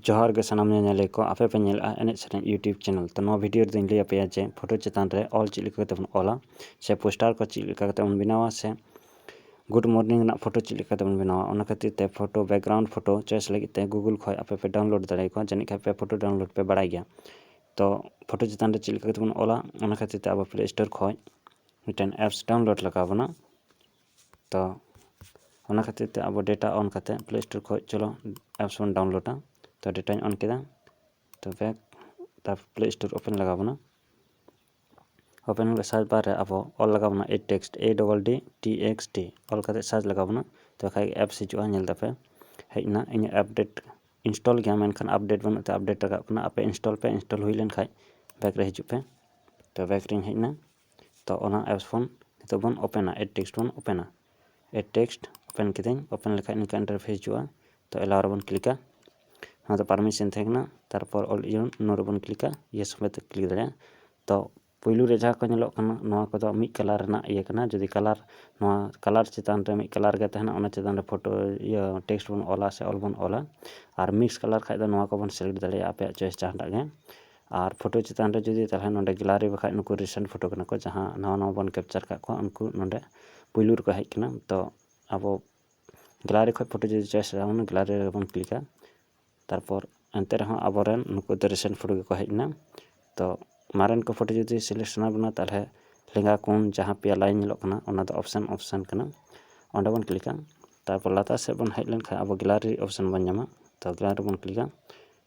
ᱡᱚᱦᱟᱨ ᱜᱮ ᱥᱟᱱᱟᱢ ᱧᱮᱧᱮᱞᱤᱭᱟᱹ ᱠᱚ ᱟᱯᱮ ᱯᱮ ᱧᱮᱞᱮᱜᱼᱟ ᱮᱱᱮᱡ ᱥᱮᱨᱮᱧ ᱤᱭᱩᱴᱩᱵᱽ ᱪᱮᱱᱮᱞ ᱛᱚ ᱱᱚᱣᱟ ᱵᱷᱤᱰᱤᱭᱳ ᱨᱮᱫᱚᱧ ᱞᱟᱹᱭ ᱟᱯᱮᱭᱟ ᱡᱮ ᱯᱷᱳᱴᱳ ᱪᱮᱛᱟᱱ ᱨᱮ ᱚᱞ ᱪᱮᱫ ᱞᱮᱠᱟ ᱠᱟᱛᱮ ᱵᱚᱱ ᱚᱞᱟ ᱥᱮ ᱯᱳᱥᱴᱟᱨ ᱠᱚ ᱪᱮᱫ ᱞᱮᱠᱟ ᱠᱟᱛᱮ ᱵᱚᱱ ᱵᱮᱱᱟᱣᱟ ᱥᱮ ᱜᱩᱰ ᱢᱚᱨᱱᱤᱝ ᱨᱮᱱᱟᱜ ᱯᱷᱳᱴᱳ ᱪᱮᱫ ᱞᱮᱠᱟ ᱠᱟᱛᱮ ᱵᱚᱱ ᱵᱮᱱᱟᱣᱟ ᱚᱱᱟ ᱠᱷᱟᱹᱛᱤᱨ ᱛᱮ ᱯᱷᱳᱴᱳ ᱵᱮᱠᱜᱨᱟᱣᱩᱱᱰ ᱯᱷᱳᱴᱳ ᱪᱚᱭᱮᱥ ᱞᱟᱹᱜᱤᱫ ᱛᱮ ᱜᱩᱜᱩᱞ ᱠᱷᱚᱡ ᱟᱯᱮ ᱯᱮ ᱰᱟᱣᱩᱱᱞᱳᱰ ᱫᱟᱲᱮ ᱟᱠᱚᱣᱟ ᱡᱟᱹᱱᱤᱡ ᱠᱷᱟᱡ ᱯᱮ ᱯᱷᱳᱴᱳ ᱰᱟᱣᱩᱱᱞᱳᱰ ᱯᱮ ᱵᱟᱲᱟᱭ ᱜᱮᱭᱟ ᱛᱚ ᱯᱷᱳᱴᱳ ᱪᱮᱛᱟᱱ ᱨᱮ ᱪᱮᱫ ᱞᱮᱠᱟ ᱠᱟᱛᱮ ᱵᱚᱱ ᱚᱞᱟ ᱚᱱᱟ ᱠᱷᱟᱹᱛᱤᱨ ᱛᱮ ᱟᱵᱚ ᱯᱞᱮ ᱥᱴᱳᱨ ᱠᱷᱚᱡ ᱢᱤᱫᱴᱮᱱ ᱮᱯᱥ ᱰᱟᱣᱩᱱᱞᱳᱰ ᱞᱟᱜᱟᱣ ᱵᱚᱱᱟ ᱛᱚ ᱚᱱᱟ ᱠᱷᱟᱹᱛᱤᱨ ᱛᱮ ᱟᱵᱚ ᱰᱮᱴᱟ ᱚᱱ ᱠᱟᱛᱮ ᱯᱞᱮ ᱥᱴᱳᱨ ᱠᱷᱚᱡ ᱪᱚᱞᱚ ᱮᱯᱥ ᱵᱚᱱ ᱰᱟᱣᱩᱱᱞᱳᱰᱟ ᱛᱚ ᱰᱮᱴᱟᱧ ᱚᱱ ᱠᱮᱫᱟ ᱛᱚ ᱵᱮᱠ ᱛᱟᱨᱯᱚᱨ ᱯᱞᱮ ᱥᱴᱳᱨ ᱳᱯᱮᱱ ᱞᱟᱜᱟᱣ ᱵᱚᱱᱟ ᱳᱯᱮᱱ ᱠᱟᱛᱮ ᱥᱟᱨᱪ ᱵᱟᱨ ᱨᱮ ᱟᱵᱚ ᱚᱞ ᱞᱟᱜᱟᱣ ᱵᱚᱱᱟ ed text E double D T X T ᱚᱞ ᱠᱟᱛᱮ ᱥᱟᱨᱪ ᱞᱟᱜᱟᱣ ᱵᱚᱱᱟ ᱛᱚ ᱠᱷᱟᱡ ᱮᱯᱥ ᱦᱤᱡᱩᱜᱼᱟ ᱧᱮᱞ ᱫᱟᱯᱮ ᱦᱮᱡ ᱮᱱᱟ ᱤᱧᱟᱹᱜ ᱟᱯᱰᱮᱴ ᱤᱱᱥᱴᱚᱞ ᱜᱮᱭᱟ ᱢᱮᱱᱠᱷᱟᱱ ᱟᱯᱰᱮᱴ ᱵᱟᱹᱱᱩᱜ ᱛᱮ ᱟᱯᱰᱮᱴ ᱞᱟᱜᱟᱜ ᱠᱟᱱᱟ ᱟᱯᱮ ᱤᱱᱥᱴᱚᱞ ᱯᱮ ᱤᱱᱥᱴᱚᱞ ᱦᱩᱭ ᱞᱮᱱᱠᱷᱟᱡ ᱵᱮᱠ ᱨᱮ ᱦᱤᱡᱩᱜ ᱯᱮ ᱛᱚ ᱵᱮᱠ ᱨᱤᱧ ᱦᱮᱡ ᱮᱱᱟ ᱛᱚ ᱚᱱᱟ ᱮᱯᱥ ᱵᱚᱱ ᱱᱤᱛᱚᱜ ᱵᱚᱱ ᱳᱯᱮᱱᱟ ᱮᱰ ᱴᱮᱠᱥᱴ ᱵᱚᱱ ᱳᱯᱮᱱᱟ ᱮᱰ ᱴᱮᱠᱥᱴ ᱳᱯᱮᱱ ᱠᱤᱫᱟᱹᱧ ᱳᱯᱮᱱ ᱞᱮᱠᱷᱟᱡ ᱱᱤᱝᱠᱟ ᱤᱱᱴᱟᱨᱯᱷᱮᱥ ᱦᱤᱡᱩᱜᱼᱟ ᱛᱚ ᱮᱞᱟᱣ ᱨᱮᱵᱚᱱ ᱠᱞᱤᱠᱟ ᱱᱚᱣᱟ ᱫᱚ ᱯᱟᱨᱢᱤᱥᱮᱱ ᱛᱟᱦᱮᱸ ᱠᱟᱱᱟ ᱛᱟᱨᱯᱚᱨ ᱚᱞ ᱤᱭᱚᱱ ᱱᱚᱣᱟ ᱨᱮᱵᱚᱱ ᱠᱞᱤᱠᱟ ᱤᱭᱮᱥ ᱥᱚᱸᱜᱮ ᱛᱮ ᱠᱞᱤᱠ ᱫᱟᱲᱮᱭᱟᱜᱼᱟ ᱛᱚ ᱯᱳᱭᱞᱳ ᱨᱮ ᱡᱟᱦᱟᱸ ᱠᱚ ᱧᱮᱞᱚᱜ ᱠᱟᱱᱟ ᱱᱚᱣᱟ ᱠᱚᱫᱚ ᱢᱤᱫ ᱠᱟᱞᱟᱨ ᱨᱮᱱᱟᱜ ᱤᱭᱟᱹ ᱠᱟᱱᱟ ᱡᱩᱫᱤ ᱠᱟᱞᱟᱨ ᱱᱚᱣᱟ ᱠᱟᱞᱟᱨ ᱪᱮᱛᱟᱱ ᱨᱮ ᱢᱤᱫ ᱠᱟᱞᱟᱨ ᱜᱮ ᱛᱟᱦᱮᱱᱟ ᱚᱱᱟ ᱪᱮᱛᱟᱱ ᱨᱮ ᱯᱷᱳᱴᱳ ᱤᱭᱟᱹ ᱴᱮᱠᱥᱴ ᱵᱚᱱ ᱚᱞᱟ ᱥᱮ ᱚᱞ ᱵᱚᱱ ᱚᱞᱟ ᱟᱨ ᱢᱤᱠᱥ ᱠᱟᱞᱟᱨ ᱠᱷᱟᱡ ᱫᱚ ᱱᱚᱣᱟ ᱠᱚᱵᱚᱱ ᱥᱤᱞᱮᱠᱴ ᱫᱟᱲᱮᱭᱟᱜᱼᱟ ᱟᱯᱮᱭᱟᱜ ᱪᱚᱭᱮᱥ ᱡᱟᱦᱟᱸᱴᱟᱜ ᱜᱮ ᱟᱨ ᱯᱷᱳᱴᱳ ᱪᱮᱛᱟᱱ ᱨᱮ ᱡᱩᱫᱤ ᱛᱟᱦᱚᱞᱮ ᱱᱚᱰᱮ ᱜᱮᱞᱟᱨᱤ ᱵᱟᱠᱷᱟᱡ ᱱᱩᱠᱩ ᱨᱤᱥᱮᱱᱴ ᱯᱷᱳᱴᱳ ᱠᱟᱱᱟ ᱠᱚ ᱡᱟᱦᱟᱸ ᱱᱟᱣᱟ ᱱᱟᱣᱟ ᱵᱚᱱ ᱠᱮᱯᱪᱟᱨ ᱠᱟᱜ ᱠᱚᱣᱟ ᱩᱱᱠᱩ ᱱᱚᱰᱮ ᱯᱳᱭᱞᱳ ᱨᱮᱠᱚ ᱦᱮᱡ ᱠᱟᱱᱟ ᱛᱚ ᱟᱵᱚ ᱜᱮᱞᱟᱨᱤ ᱠᱷᱚᱡ ᱯᱷᱳᱴᱳ ᱡᱩᱫᱤ ᱪᱚᱭᱮᱥ ᱦᱩᱭᱩᱜᱼᱟ ᱚᱱᱟ ᱜᱮᱞᱟᱨᱤ ᱨᱮᱵᱚᱱ ᱠᱞᱤᱠᱟ ᱛᱟᱨᱯᱚᱨ ᱮᱱᱛᱮ ᱨᱮᱦᱚᱸ ᱟᱵᱚ ᱨᱮᱱ ᱱᱩᱠᱩ ᱫᱚ ᱨᱤᱥᱮᱱᱴ ᱯᱷᱳᱴᱳ ᱜᱮᱠᱚ ᱦᱮᱡ ᱮᱱᱟ ᱛᱚ ᱢᱟᱨᱮᱱ ᱠᱚ ᱯᱷᱳᱴᱳ ᱡᱩᱫᱤ ᱥᱤᱞᱮᱠᱴ ᱥᱟᱱᱟ ᱵᱚᱱᱟ ᱛᱟᱦᱚᱞᱮ ᱞᱮᱸᱜᱟ ᱠᱚᱱ ᱡᱟᱦᱟᱸ ᱯᱮᱭᱟ ᱞᱟᱭᱤᱱ ᱧᱮᱞᱚᱜ ᱠᱟᱱᱟ ᱚᱱᱟ ᱫᱚ ᱚᱯᱷᱥᱮᱱ ᱚᱯᱷᱥᱮᱱ ᱠᱟᱱᱟ ᱚᱸᱰᱮ ᱵᱚᱱ ᱠᱞᱤᱠᱟ ᱛᱟᱨᱯᱚᱨ ᱞᱟᱛᱟᱨ ᱥᱮᱫ ᱵᱚᱱ ᱦᱮᱡ ᱞᱮᱱᱠᱷᱟᱡ ᱟᱵᱚ ᱜᱮᱞᱟᱨᱤ ᱚᱯᱷᱥᱮᱱ ᱵᱚᱱ ᱧᱟᱢᱟ ᱛᱚ ᱜᱮᱞᱟᱨᱤ ᱨᱮᱵᱚᱱ ᱠᱞᱤᱠᱟ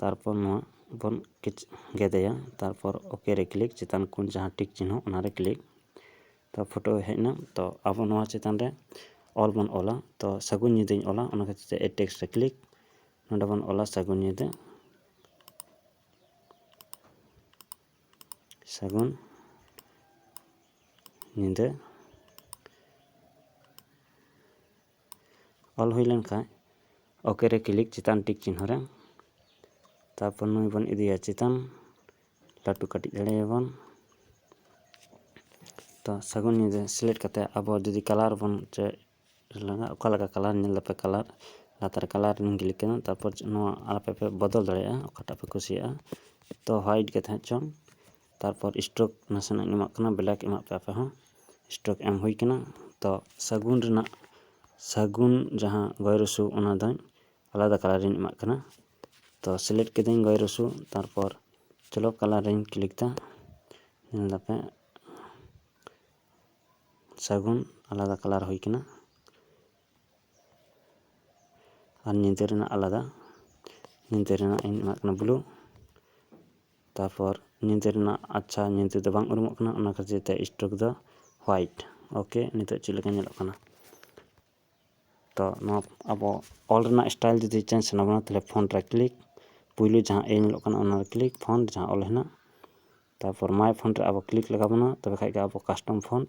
ᱛᱟᱨᱯᱚᱨ ᱱᱚᱣᱟ ᱵᱚᱱ ᱜᱮᱫᱮᱭᱟ ᱛᱟᱨᱯᱚᱨ ᱳᱠᱮ ᱨᱮ ᱠᱞᱤᱠ ᱪᱮᱛᱟᱱ ᱠᱷᱚᱱ ᱡᱟᱦᱟᱸ ᱴᱤᱠ ᱪᱤᱱᱦᱟᱹ ᱚᱱᱟᱨᱮ ᱠᱞᱤᱠ ᱛᱚ ᱯᱷᱳᱴᱳ ᱦᱮᱡ ᱮᱱᱟ ᱛᱚ ᱟᱵᱚ ᱱᱚᱣᱟ ᱪᱮᱛᱟᱱ ᱨᱮ ᱚᱞ ᱵᱚᱱ ᱚᱞᱟ ᱛᱚ ᱥᱟᱹᱜᱩᱱ ᱧᱤᱫᱟᱹᱧ ᱚᱞᱟ ᱚᱱᱟ ᱠᱷᱟᱹᱛᱤᱨ ᱛᱮ ᱮᱰ ᱴᱮᱠᱥᱴ ᱨᱮ ᱠᱞᱤᱠ ᱱᱚᱰᱮ ᱵᱚᱱ ᱚᱞᱟ ᱥᱟᱹᱜᱩᱱ ᱧᱤᱫᱟᱹ ᱥᱟᱹᱜᱩᱱ ᱧᱤᱫᱟᱹ ᱚᱞ ᱦᱩᱭ ᱞᱮᱱ ᱠᱷᱟᱱ ᱳᱠᱮ ᱨᱮ ᱠᱞᱤᱠ ᱪᱮᱛᱟᱱ ᱴᱤᱠ ᱪᱤᱱᱦᱟᱹ ᱨᱮ ᱛᱟᱨᱯᱚᱨ ᱱᱩᱭ ᱵᱚᱱ ᱤᱫᱤᱭᱟ ᱪᱮᱛᱟᱱ ᱞᱟᱹᱴᱩ ᱠᱟᱹᱴᱤᱡ ᱫᱟᱲᱮᱭᱟᱵᱚᱱ ᱛᱚ ᱥᱟᱹᱜᱩᱱ ᱧᱤᱫᱟᱹ ᱥᱤᱞᱮᱠᱴ ᱠᱟᱛᱮᱫ ᱟᱵᱚ ᱡᱩᱫᱤ ᱠᱟᱞᱟᱨ ᱵᱚᱱ ᱪᱮ ᱞᱟᱜᱟᱜ ᱚᱠᱟ ᱞᱮᱠᱟ ᱠᱟᱞᱟᱨ ᱧᱮᱞ ᱫᱟᱯᱮ ᱠᱟᱞᱟᱨ ᱞᱟᱛᱟᱨ ᱠᱟᱞᱟᱨ ᱨᱮᱞᱤᱧ ᱠᱞᱤᱠ ᱠᱮᱫᱟ ᱛᱟᱨᱯᱚᱨ ᱱᱚᱣᱟ ᱟᱯᱮ ᱯᱮ ᱵᱚᱫᱚᱞ ᱫᱟᱲᱮᱭᱟᱜᱼᱟ ᱚᱠᱟᱴᱟᱜ ᱯᱮ ᱠᱩᱥᱤᱭᱟᱜᱼᱟ ᱛᱚ ᱦᱳᱣᱟᱭᱤᱴ ᱜᱮ ᱛᱟᱦᱮᱸ ᱦᱚᱪᱚᱱ ᱛᱟᱨᱯᱚᱨ ᱥᱴᱳᱠ ᱱᱟᱥᱮᱱᱟᱜ ᱤᱧ ᱮᱢᱟᱜ ᱠᱟᱱᱟ ᱵᱞᱮᱠ ᱮᱢᱟᱜ ᱯᱮ ᱟᱯᱮ ᱦᱚᱸ ᱥᱴᱳᱠ ᱮᱢ ᱦᱩᱭ ᱠᱟᱱᱟ ᱛᱚ ᱥᱟᱹᱜᱩᱱ ᱨᱮᱱᱟᱜ ᱥᱟᱹᱜᱩᱱ ᱡᱟᱦᱟᱸ ᱜᱚᱭᱮ ᱨᱚᱥᱩ ᱚᱱᱟ ᱫᱚᱧ ᱟᱞᱟᱫᱟ ᱠᱟᱞᱟᱨ ᱤᱧ ᱮᱢᱟᱜ ᱠᱟᱱᱟ ᱛᱚ ᱥᱤᱞᱮᱠᱴ ᱠᱤᱫᱟᱹᱧ ᱜᱚᱭᱮ ᱨᱚᱥᱩ ᱛᱟᱨᱯᱚᱨ ᱪᱚᱞᱚ ᱠᱟᱞᱟᱨ ᱨᱤᱧ ᱠᱞᱤᱠ ᱫᱟ ᱧᱮᱞ ᱫᱟᱯᱮ ᱥᱟᱹᱜᱩᱱ ᱟᱞᱟᱫᱟ ᱠᱟᱞᱟᱨ ᱦᱩᱭ ᱠᱟᱱᱟ ᱟᱨ ᱧᱤᱫᱟᱹ ᱨᱮᱱᱟᱜ ᱟᱞᱟᱫᱟ ᱧᱤᱫᱟᱹ ᱨᱮᱱᱟᱜ ᱤᱧ ᱮᱢᱟᱜ ᱠᱟᱱᱟ ᱵᱞᱩ ᱛᱟᱨᱯᱚᱨ ᱧᱤᱫᱟᱹ ᱨᱮᱱᱟᱜ ᱟᱪᱪᱷᱟ ᱧᱤᱫᱟᱹ ᱫᱚ ᱵᱟᱝ ᱩᱨᱩᱢᱚᱜ ᱠᱟᱱᱟ ᱚᱱᱟ ᱠᱷᱟᱹᱛᱤᱨ ᱛᱮ ᱥᱴᱨᱳᱠ ᱫᱚ ᱦᱳᱣᱟᱭᱤᱴ ᱳᱠᱮ ᱱᱤᱛᱚᱜ ᱪᱮᱫ ᱞᱮᱠᱟ ᱧᱮᱞᱚᱜ ᱠᱟᱱᱟ ᱛᱚ ᱱᱚᱣᱟ ᱟᱵᱚ ᱚᱞ ᱨᱮᱱᱟᱜ ᱥᱴᱟᱭᱤᱞ ᱡᱩᱫᱤ ᱪᱮᱧᱡᱽ ᱥᱟᱱᱟ ᱵᱚᱱᱟ ᱛᱟᱦᱚᱞᱮ ᱯᱷᱚᱱᱴ ᱨᱮ ᱠᱞᱤᱠ ᱯᱩᱭᱞᱩ ᱡᱟᱦᱟᱸ ᱮ ᱧᱮᱞᱚᱜ ᱠᱟᱱᱟ ᱚᱱᱟᱨᱮ ᱠᱞᱤᱠ ᱯᱷᱚᱱᱴ ᱡᱟᱦᱟᱸ ᱚᱞ ᱦᱮᱱᱟᱜ ᱛᱟᱨᱯᱚᱨ ᱢᱟᱭ ᱯᱷᱚᱱᱴ ᱨᱮ ᱟᱵᱚ ᱠᱞᱤᱠ ᱞᱟᱜᱟᱣ ᱵᱚᱱᱟ ᱛᱚᱵᱮ ᱠᱷᱟᱱ ᱜᱮ ᱟᱵᱚ ᱠᱟᱥᱴᱚᱢ ᱯᱷᱚᱱᱴ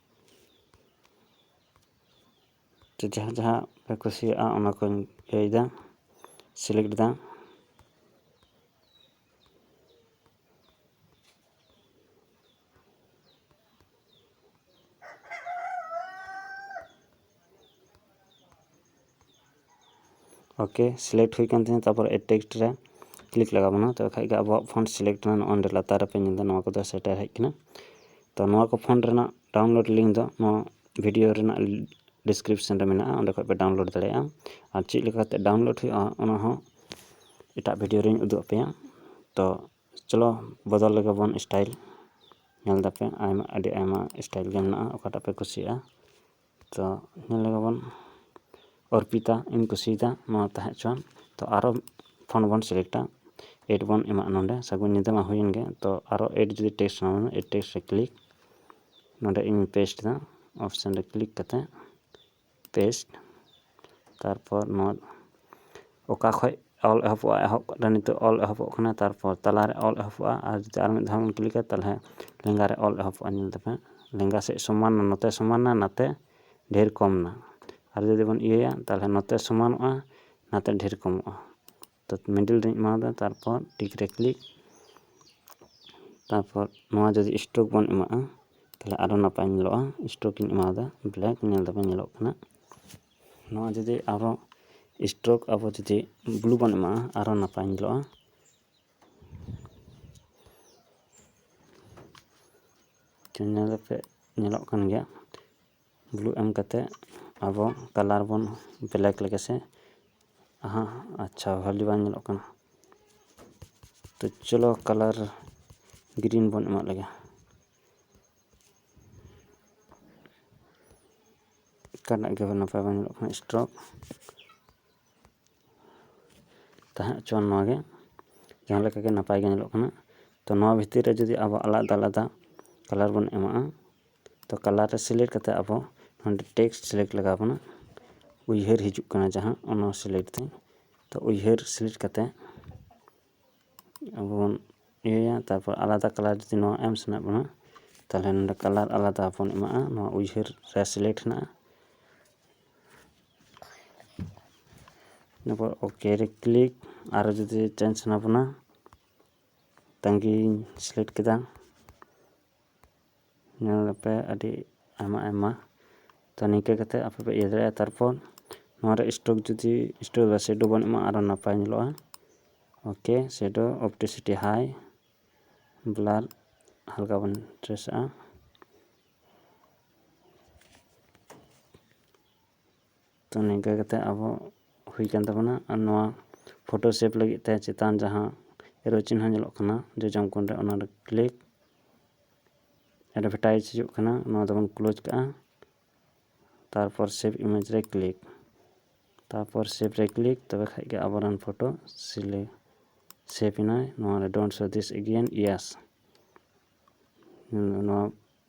ᱛᱚ ᱡᱟᱦᱟᱸ ᱡᱟᱦᱟᱸ ᱯᱮ ᱠᱩᱥᱤᱭᱟᱜᱼᱟ ᱚᱱᱟ ᱠᱚᱧ ᱤᱭᱟᱹᱭᱮᱫᱟ ᱥᱤᱞᱮᱠᱴ ᱮᱫᱟ ᱳᱠᱮ ᱥᱤᱞᱮᱠᱴ ᱦᱩᱭ ᱠᱟᱱ ᱛᱤᱧᱟᱹ ᱛᱟᱨᱯᱚᱨ ᱮᱰ ᱴᱮᱠᱥᱴ ᱨᱮ ᱠᱞᱤᱠ ᱞᱟᱜᱟᱣ ᱵᱚᱱᱟ ᱛᱚᱵᱮ ᱠᱷᱟᱡ ᱜᱮ ᱟᱵᱚᱣᱟᱜ ᱯᱷᱚᱱᱴ ᱥᱤᱞᱮᱠᱴ ᱮᱱᱟ ᱱᱚᱜᱼᱚᱭ ᱱᱚᱰᱮ ᱞᱟᱛᱟᱨ ᱨᱮᱯᱮ ᱧᱮᱞ ᱮᱫᱟ ᱱᱚᱣᱟ ᱠᱚᱫᱚ ᱥᱮᱴᱮᱨ ᱦᱮᱡ ᱠᱟᱱᱟ ᱛᱚ ᱱᱚᱣᱟ ᱠᱚ ᱯᱷᱚᱱᱴ ᱨᱮᱱᱟᱜ ᱰᱟᱣᱩᱱᱞᱳᱰ ᱞᱤᱝᱠ ᱫᱚ ᱱᱚᱣᱟ ᱵᱷᱤᱰᱤᱭᱳ ᱨᱮᱱᱟᱜ ᱰᱤᱥᱠᱨᱤᱯᱥᱚᱱ ᱨᱮ ᱢᱮᱱᱟᱜᱼᱟ ᱚᱸᱰᱮ ᱠᱷᱚᱡ ᱯᱮ ᱰᱟᱣᱩᱱᱞᱳᱰ ᱫᱟᱲᱮᱭᱟᱜᱼᱟ ᱟᱨ ᱪᱮᱫ ᱞᱮᱠᱟ ᱠᱟᱛᱮ ᱰᱟᱣᱩᱱᱞᱳᱰ ᱦᱩᱭᱩᱜᱼᱟ ᱚᱱᱟ ᱦᱚᱸ ᱮᱴᱟᱜ ᱵᱷᱤᱰᱤᱭᱳ ᱨᱤᱧ ᱩᱫᱩᱜ ᱟᱯᱮᱭᱟ ᱛᱚ ᱪᱚᱞᱚ ᱵᱚᱫᱚᱞ ᱞᱮᱜᱮ ᱵᱚᱱ ᱥᱴᱟᱭᱤᱞ ᱧᱮᱞ ᱫᱟᱯᱮ ᱟᱭᱢᱟ ᱟᱹᱰᱤ ᱟᱭᱢᱟ ᱥᱴᱟᱭᱤᱞ ᱜᱮ ᱢᱮᱱᱟᱜᱼᱟ ᱚᱠᱟᱴᱟᱜ ᱯᱮ ᱠᱩᱥᱤᱭᱟᱜᱼᱟ ᱛᱚ ᱧᱮᱞ ᱞᱮᱜᱮ ᱵᱚᱱ ᱚᱨᱯᱤᱛᱟ ᱤᱧ ᱠᱩᱥᱤᱭᱟᱫᱟ ᱱᱚᱣᱟ ᱛᱟᱦᱮᱸ ᱦᱚᱪᱚᱣᱟᱱ ᱛᱚ ᱟᱨᱚ ᱯᱷᱳᱱ ᱵᱚᱱ ᱥᱤᱞᱮᱠᱴᱟ ᱮᱰ ᱵᱚᱱ ᱮᱢᱟᱜᱼᱟ ᱱᱚᱰᱮ ᱥᱟᱹᱜᱩᱱ ᱧᱤᱫᱟᱹ ᱢᱟ ᱦᱩᱭᱮᱱ ᱜᱮ ᱛᱚ ᱟᱨᱚ ᱮᱰ ᱡᱩᱫᱤ ᱴᱮᱥᱴ ᱥᱟᱱᱟ ᱵᱚᱱᱟ ᱮᱰ ᱴᱮᱥᱴ ᱨᱮ ᱠᱞᱤᱠ ᱱᱚᱰᱮ ᱤᱧ ᱯᱮᱥᱴ ᱮᱫᱟ ᱚᱯᱷᱥᱮᱱ ᱨᱮ ᱠᱞᱤᱠ ᱠᱟᱛᱮᱫ ᱯᱮᱥᱴ ᱛᱟᱨᱯᱚᱨ ᱱᱚᱣᱟ ᱚᱠᱟ ᱠᱷᱚᱡ ᱚᱞ ᱮᱦᱚᱵᱚᱜᱼᱟ ᱮᱦᱚᱵ ᱠᱟᱛᱮ ᱱᱤᱛᱚᱜ ᱚᱞ ᱮᱦᱚᱵᱚᱜ ᱠᱟᱱᱟ ᱛᱟᱨᱯᱚᱨ ᱛᱟᱞᱟ ᱨᱮ ᱚᱞ ᱮᱦᱚᱵᱚᱜᱼᱟ ᱟᱨ ᱡᱩᱫᱤ ᱟᱨ ᱢᱤᱫ ᱫᱷᱟᱣ ᱵᱚᱱ ᱠᱞᱤᱠᱟ ᱛᱟᱦᱚᱞᱮ ᱞᱮᱸᱜᱟ ᱨᱮ ᱚᱞ ᱮᱦᱚᱵᱚᱜᱼᱟ ᱧᱮᱞ ᱛᱟᱯᱮ ᱦᱟᱸᱜ ᱞᱮᱸᱜᱟ ᱥᱮᱡ ᱥᱚᱢᱟᱱ ᱮᱱᱟ ᱱᱚᱛᱮ ᱥᱚᱢᱟᱱ ᱮᱱᱟ ᱱᱟᱛᱮ ᱰᱷᱮᱨ ᱠᱚᱢ ᱮᱱᱟ ᱟᱨ ᱡᱩᱫᱤ ᱵᱚᱱ ᱤᱭᱟᱹᱭᱟ ᱛᱟᱦᱚᱞᱮ ᱱᱚᱛᱮ ᱥᱚᱢᱟᱱᱚᱜᱼᱟ ᱱᱟᱛᱮ ᱰᱷᱮᱨ ᱠᱚᱢᱚᱜᱼᱟ ᱛᱚ ᱢᱤᱰᱤᱞ ᱨᱤᱧ ᱮᱢᱟᱣ ᱟᱫᱟ ᱛᱟᱨᱯᱚᱨ ᱴᱤᱠ ᱨᱮ ᱠᱞᱤᱠ ᱛᱟᱨᱯᱚᱨ ᱱᱚᱣᱟ ᱡᱩᱫᱤ ᱥᱴᱨᱳᱠ ᱵᱚᱱ ᱮᱢᱟᱜᱼᱟ ᱛᱟᱦᱚᱞᱮ ᱟᱨᱚ ᱱᱟᱯᱟᱭ ᱧᱮᱞᱚᱜᱼᱟ ᱥᱴᱨᱳᱠ ᱤᱧ ᱮᱢᱟᱣ ᱟᱫᱟ ᱵᱞᱮᱠ ᱧᱮᱞ ᱫᱟᱵᱚᱱ ᱧᱮᱞᱚᱜ ᱠᱟᱱᱟ ᱱᱚᱣᱟ ᱡᱩᱫᱤ ᱟᱨᱚ ᱥᱴᱨᱳᱠ ᱟᱵᱚ ᱡᱩᱫᱤ ᱵᱞᱩ ᱵᱚᱱ ᱮᱢᱟᱜᱼᱟ ᱟᱨᱚ ᱱᱟᱯᱟᱭ ᱧᱮᱞᱚᱜᱼᱟ ᱧᱮᱞ ᱠᱟᱛᱮ ᱧᱮᱞᱚᱜ ᱠᱟᱱ ᱜᱮᱭᱟ ᱜᱞᱩ ᱮᱢ ᱠᱟᱛᱮ ᱟᱵᱚ ᱠᱟᱞᱟᱨ ᱵᱚᱱ ᱵᱞᱮᱠ ᱞᱮᱜᱮ ᱥᱮ ᱦᱟᱸ ᱟᱪᱪᱷᱟ ᱵᱷᱟᱞᱮ ᱵᱟᱝ ᱧᱮᱞᱚᱜ ᱠᱟᱱᱟ ᱛᱚ ᱪᱚᱞᱚ ᱠᱟᱞᱟᱨ ᱜᱨᱤᱱ ᱵᱚᱱ ᱮᱢᱟᱜ ᱞᱮᱜᱮ ᱚᱠᱟᱴᱟᱜ ᱜᱮ ᱱᱟᱯᱟᱭ ᱵᱟᱝ ᱧᱮᱞᱚᱜ ᱠᱟᱱᱟ ᱥᱴᱨᱚᱠ ᱛᱟᱦᱮᱸ ᱦᱚᱪᱚᱣᱟᱱ ᱱᱚᱣᱟ ᱜᱮ ᱡᱟᱦᱟᱸ ᱞᱮᱠᱟ ᱜᱮ ᱱᱟᱯᱟᱭ ᱜᱮ ᱧᱮᱞᱚᱜ ᱠᱟᱱᱟ ᱛᱚ ᱱᱚᱣᱟ ᱵᱷᱤᱛᱤᱨ ᱨᱮ ᱡᱩᱫᱤ ᱟᱵᱚ ᱟᱞᱟᱫᱟ ᱟᱞᱟᱫᱟ ᱠᱟᱞᱟᱨ ᱵᱚᱱ ᱮᱢᱟᱜᱼᱟ ᱛᱚ ᱠᱟᱞᱟᱨ ᱨᱮ ᱥᱤᱞᱮᱠᱴ ᱠᱟᱛᱮ ᱟᱵᱚ ᱱᱚᱰᱮ ᱴᱮᱠᱥᱴ ᱥᱤᱞᱮᱠᱴ ᱞᱟᱜᱟᱣ ᱵᱚᱱᱟ ᱩᱭᱦᱟᱹᱨ ᱦᱤᱡᱩᱜ ᱠᱟᱱᱟ ᱡᱟᱦᱟᱸ ᱚᱱᱟ ᱥᱤᱞᱮᱠᱴ ᱫᱟᱹᱧ ᱛᱚ ᱩᱭᱦᱟᱹᱨ ᱥᱤᱞᱮᱠᱴ ᱠᱟᱛᱮ ᱟᱵᱚ ᱵᱚᱱ ᱤᱭᱟᱹᱭᱟ ᱛᱟᱨᱯᱚᱨ ᱟᱞᱟᱫᱟ ᱠᱟᱞᱟᱨ ᱡᱩᱫᱤ ᱱᱚᱣᱟ ᱮᱢ ᱥᱟᱱᱟᱭᱮᱫ ᱵᱚᱱᱟ ᱛᱟᱦᱚᱞᱮ ᱱᱚᱰᱮ ᱠᱟᱞᱟᱨ ᱟᱞᱟᱫᱟ ᱵᱚᱱ ᱮᱢᱟᱜᱼᱟ ᱱᱚᱣᱟ ᱩᱭᱦᱟᱹᱨ ᱨᱮ ᱥᱤᱞᱮᱠᱴ ᱦᱮᱱᱟᱜᱼᱟ ᱤᱱᱟᱹᱯᱚᱨ ᱳᱠᱮ ᱨᱮ ᱠᱞᱤᱠ ᱟᱨᱚ ᱡᱩᱫᱤ ᱪᱮᱧᱡᱽ ᱥᱟᱱᱟ ᱵᱚᱱᱟ ᱛᱟᱺᱜᱤᱧ ᱥᱤᱞᱮᱠᱴ ᱠᱮᱫᱟ ᱧᱮᱞ ᱟᱯᱮ ᱟᱹᱰᱤ ᱟᱭᱢᱟ ᱟᱭᱢᱟ ᱛᱚ ᱱᱤᱝᱠᱟᱹ ᱠᱟᱛᱮ ᱟᱯᱮ ᱯᱮ ᱤᱭᱟᱹ ᱫᱟᱲᱮᱭᱟᱜᱼᱟ ᱛᱟᱨᱯᱚᱨ ᱱᱚᱣᱟ ᱨᱮ ᱥᱴᱳᱠ ᱡᱩᱫᱤ ᱥᱴᱳᱠ ᱵᱟ ᱥᱮᱰᱳ ᱵᱚᱱ ᱮᱢᱟ ᱟᱨᱚ ᱱᱟᱯᱟᱭ ᱧᱮᱞᱚᱜᱼᱟ ᱳᱠᱮ ᱥᱮᱰᱳ ᱚᱯᱴᱤᱥᱤᱴᱤ ᱦᱟᱭ ᱵᱞᱟᱨ ᱦᱟᱞᱠᱟ ᱵᱚᱱ ᱴᱨᱮᱥᱟᱜᱼᱟ ᱛᱚ ᱱᱤᱝᱠᱟᱹ ᱠᱟᱛᱮᱫ ᱟᱵᱚ ᱦᱩᱭ ᱟᱠᱟᱱ ᱛᱟᱵᱚᱱᱟ ᱟᱨ ᱱᱚᱣᱟ ᱯᱷᱳᱴᱳ ᱥᱮᱵᱷ ᱞᱟᱹᱜᱤᱫ ᱛᱮ ᱪᱮᱛᱟᱱ ᱡᱟᱦᱟᱸ ᱮᱨᱳ ᱪᱤᱱᱦᱟᱹ ᱧᱮᱞᱚᱜ ᱠᱟᱱᱟ ᱡᱚᱡᱚᱢ ᱠᱚᱬ ᱨᱮ ᱚᱱᱟᱨᱮ ᱠᱞᱤᱠ ᱮᱰᱵᱷᱮᱴᱟᱭᱤᱡᱽ ᱦᱤᱡᱩᱜ ᱠᱟᱱᱟ ᱱᱚᱣᱟ ᱫᱚᱵᱚᱱ ᱠᱞᱳᱡᱽ ᱠᱟᱜᱼᱟ ᱛᱟᱨᱯᱚᱨ ᱥᱮᱵᱷ ᱤᱢᱮᱡᱽ ᱨᱮ ᱠᱞᱤᱠ ᱛᱟᱨᱯᱚᱨ ᱥᱮᱵᱷ ᱨᱮ ᱠᱞᱤᱠ ᱛᱚᱵᱮ ᱠᱷᱟᱡ ᱜᱮ ᱟᱵᱚᱨᱮᱱ ᱯᱷᱳᱴᱳ ᱥᱤᱞᱮ ᱥᱮᱵᱷ ᱮᱱᱟᱭ ᱱᱚᱣᱟᱨᱮ ᱰᱳᱱᱴ ᱥᱳ ᱫᱤᱥ ᱮᱜᱮᱭᱮᱱ ᱤᱭᱮᱥ ᱱᱚᱣᱟ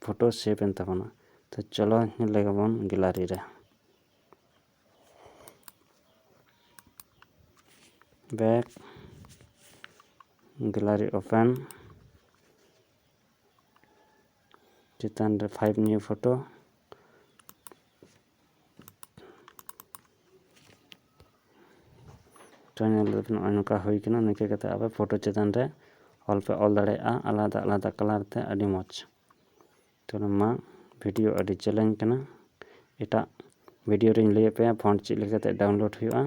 ᱯᱷᱳᱴᱳ ᱥᱮᱵᱷ ᱮᱱ ᱛᱟᱵᱚᱱᱟ ᱛᱚ ᱪᱚᱞᱚ ᱧᱮᱞ ᱞᱮᱜᱮ ᱵᱚᱱ ᱜᱮᱞᱟᱨᱤ ᱨᱮ ᱵᱮᱠ ᱜᱮᱞᱟᱨᱤ ᱳᱯᱮᱱ ᱪᱮᱛᱟᱱ ᱨᱮ ᱯᱷᱟᱭᱤᱵ ᱱᱤᱭᱩ ᱯᱷᱳᱴᱳ ᱯᱷᱳᱴᱳ ᱧᱮᱞ ᱞᱮᱫᱟ ᱱᱚᱜᱼᱚᱭ ᱱᱚᱝᱠᱟ ᱦᱩᱭ ᱠᱟᱱᱟ ᱱᱤᱝᱠᱟᱹ ᱠᱟᱛᱮ ᱟᱯᱮ ᱯᱷᱳᱴᱳ ᱪᱮᱛᱟᱱ ᱨᱮ ᱚᱞ ᱯᱮ ᱚᱞ ᱫᱟᱲᱮᱭᱟᱜᱼᱟ ᱟᱞᱟᱫᱟ ᱟᱞᱟᱫᱟ ᱠᱟᱞᱟᱨ ᱛᱮ ᱟᱹᱰᱤ ᱢᱚᱡᱽ ᱛᱚ ᱢᱟ ᱵᱷᱤᱰᱤᱭᱳ ᱟᱹᱰᱤ ᱡᱮᱞᱮᱧ ᱠᱟᱱᱟ ᱮᱴᱟᱜ ᱵᱷᱤᱰᱤᱭᱳ ᱨᱤᱧ ᱞᱟᱹᱭ ᱟᱯᱮᱭᱟ ᱯᱷᱚᱱᱴ ᱪᱮᱫ ᱞᱮᱠᱟᱛᱮ ᱰᱟᱣᱩᱱᱞᱳᱰ ᱦᱩᱭᱩᱜᱼᱟ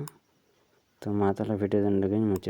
ᱛᱚ ᱢᱟ ᱛᱟᱦᱚᱞᱮ ᱵᱷᱤᱰᱤᱭᱳ ᱫᱚ ᱱᱚᱰᱮ ᱜᱤᱧ ᱢᱩᱪᱟᱹᱫ